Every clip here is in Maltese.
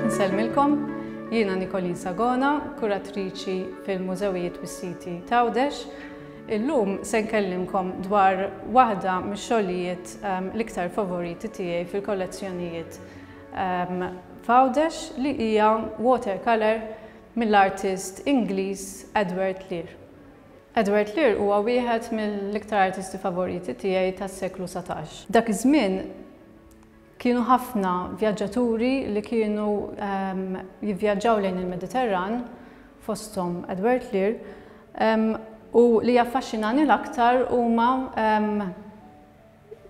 Nsellmilkom, jiena Nikolin Sagona, kuratriċi fil-Mużewijiet bis-Siti Tawdex. Illum se nkellimkom dwar waħda mix-xogħlijiet ehm, l-iktar favoriti tiegħi fil-kollezzjonijiet ehm, Fawdex li hija watercolor mill-artist Ingliż Edward Lear. Edward Lear huwa wieħed mill-iktar artisti favoriti tiegħi tas-seklu satax. Dak iż-żmien kienu ħafna vjaġġaturi li kienu jivvjaġġaw lejn il-Mediterran, fosthom Edward Lear, u li jaffaxxinani l-aktar huma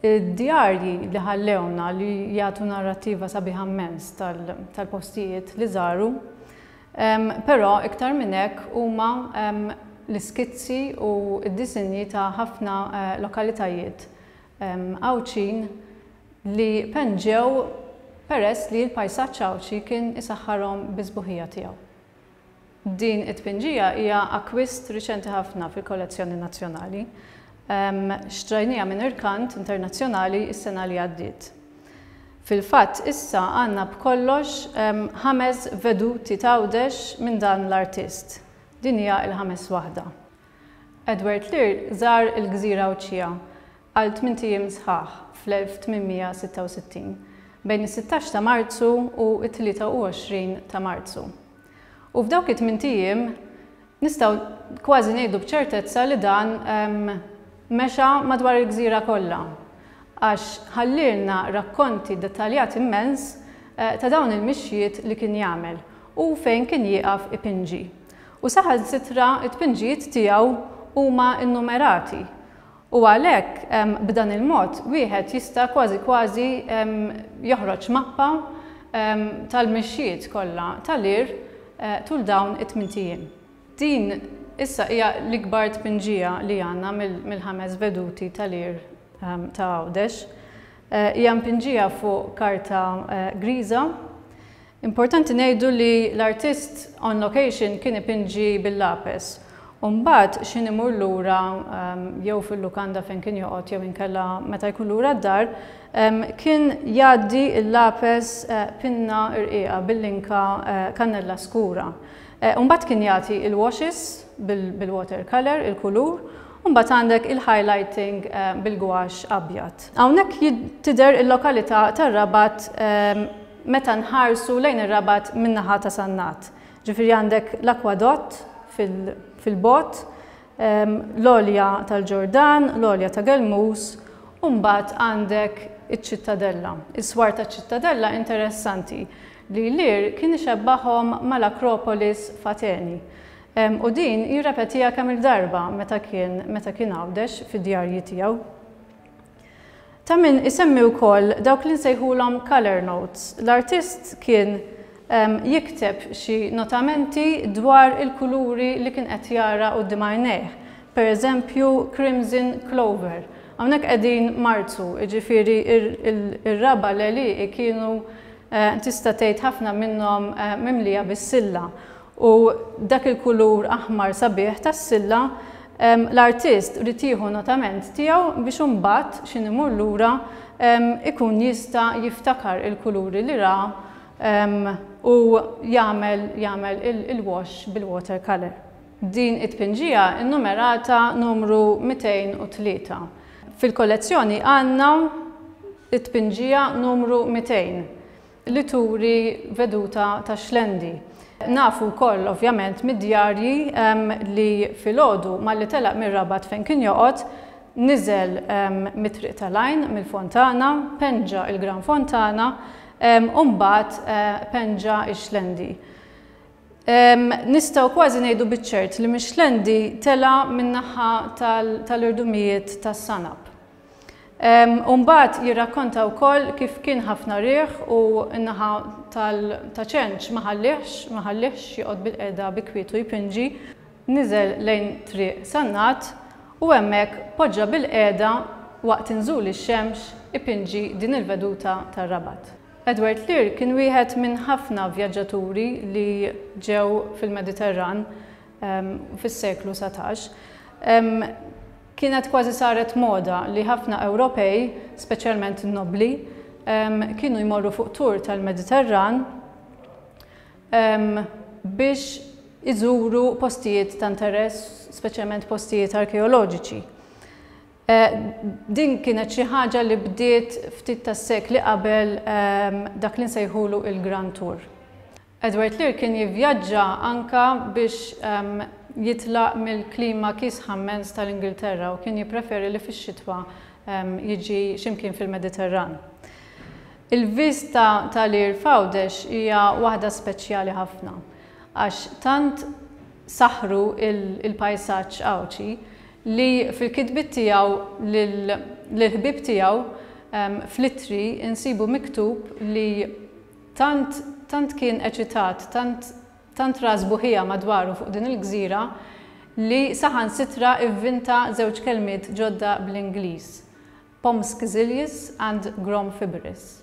Id-djarji li ħallewna li jagħtu narrattiva sabiħa mmens tal-postijiet li żaru, però iktar minn hekk huma l-iskizzi u d-disinji ta' ħafna lokalitajiet Għawdxin li penġew peress li l-pajsaġġ Għawdxi kien isaħħarhom bis-sbuħija tiegħu. Din it-tpinġija hija akkwist riċenti ħafna fil-kollezzjoni nazzjonali. Xtrajniha minn Irkant Internazzjonali s-sena li għaddiet. Fil-fatt issa għandna b'kollox ħames veduti t'Għawdex minn dan l-artist. Din hija l-ħames waħda. Edward Lear żar il-gżira Għawdxija għal tmint ijiem sħaħ fl-1866, bejn is-sittax ta' Marzu u t-23 ta' Marzu. U f'dawk it-tmint ijiem nistgħu kważi ngħidu b'ċertezza li dan mexa madwar il-gżira kollha, għax ħallielna rakkonti dettaljati mmens ta' dawn il-mixjiet li kien jagħmel u fejn kien jieqaf ipinġi. U saħansitra t-tpinġijiet tiegħu huma nnumerati U għalhekk, b'dan il-mod, wieħed jista' kważi kważi joħroġ mappa tal-mixjiet kollha tal-għir tul dawn it-tmint ijiem. Din issa hija l-ikbar tpinġija li għandna mill-ħames veduti tal-għir ta' Għawdex. Hija mpinġija fuq karta griża. Importanti ngħidu li l-artist on location kien ipinġi bil-lapes u mbagħad x'ħin imur lura jew fil-lukanda fejn kien joqgħod jew inkella meta jkun lura d-dar kien jgħaddi l-lapes pinna rqiqa bil-linka kannella skura u mbagħad kien jagħti il-washes bil-water colour, il-kulur, u mbagħad għandek il-highlighting bil-gwaxx abjad. Hawnhekk tidher il-lokalita' tar-Rabat meta nħarsu lejn ir-Rabat min-naħa ta' Sannat. Ġifieri għandek l-akwadott fil-bogħod, l-għolja tal-Ġordan, l-għolja ta' Gelmus, u mbagħad għandek iċ-ċittadella. Is-swar taċ-ċittadella interessanti li Lear kien ixebbahhom mal-Akropolis f'Ateni. U din jirrepetiha kemm-il darba meta kien meta kien Għawdex fid-djarji tiegħu. Ta' min isemmi wkoll dawk li nsejħulhom colour notes. L-artist kien jikteb xi notamenti dwar il-kuluri li kien qed jara quddiem għajnejh, per eżempju crimson clover. Hawnhekk qegħdin Marzu, jiġifieri r-raba' leli kienu tista' tgħid ħafna minnhom mimlija bis-silla. u dak il-kulur aħmar sabiħ tas-silla, l-artist ried jieħu notament tiegħu biex imbagħad x'ħin imur lura jkun jista' jiftakar il-kuluri li ra u jagħmel jagħmel il-wash bil-water colour. Din it-tpinġija nnumerata numru 203. Fil-kollezzjoni għandna t-tpinġija numru 200. li turi veduta tax-Xlendi. Nafu wkoll ovvjament mid-djarji li filgħodu malli telaq mir-Rabat fejn kien joqgħod, niżel mit-Triq tal-Għajn, mill-Fontana, penġa il-Gran Fontana u mbagħad penġa x-Xlendi. Nistgħu kważi ngħidu biċ-ċert li mix-Xlendi tela' min-naħa tal-irdumijiet tas-Sanab. U mbagħad jirrakkonta wkoll kif kien ħafna riħ u n-naħa ta' ċenċ ma ħallihx ma ħallihx joqgħod bilqiegħda bi kwietu jpinġi, niżel lejn Triq Sannat u hemmhekk poġġa bilqiegħda waqt inżul ix-xemx ipinġi din il-veduta tar-Rabat. Edward Lear kien wieħed minn ħafna vjaġġaturi li ġew fil-Mediterran fis-seklu satax. Kienet kważi saret moda li ħafna Ewropej, speċjalment in-nobbli, kienu jmorru fuq tour tal-Mediterran biex iżuru postijiet ta' interess, speċjalment postijiet arkeoloġiċi. Din kienet xi ħaġa li bdiet ftit tas-sekli qabel dak li nsejħulu il-Grand Tour. Edward Lear kien jivvjaġġa anke biex jitlaq mill-klima kiesħa mmens tal-Ingilterra u kien jippreferi li fix-xitwa jiġi xi mkien fil-Mediterran. Il-viżta ta' Lear f'Għawdex hija waħda speċjali ħafna għax tant saħħru l-pajsaġġ Għawdxi li fil-kitbiet tiegħu lill-ħbieb tiegħu fl-ittri nsibu miktub li Tant, tant kien eċitat, tant, tant ra sbuħija madwaru fuq din il-gżira li saħansitra ivvinta żewġ kelmiet ġodda bl-Ingliż, Pomskzilius and Gromfibris.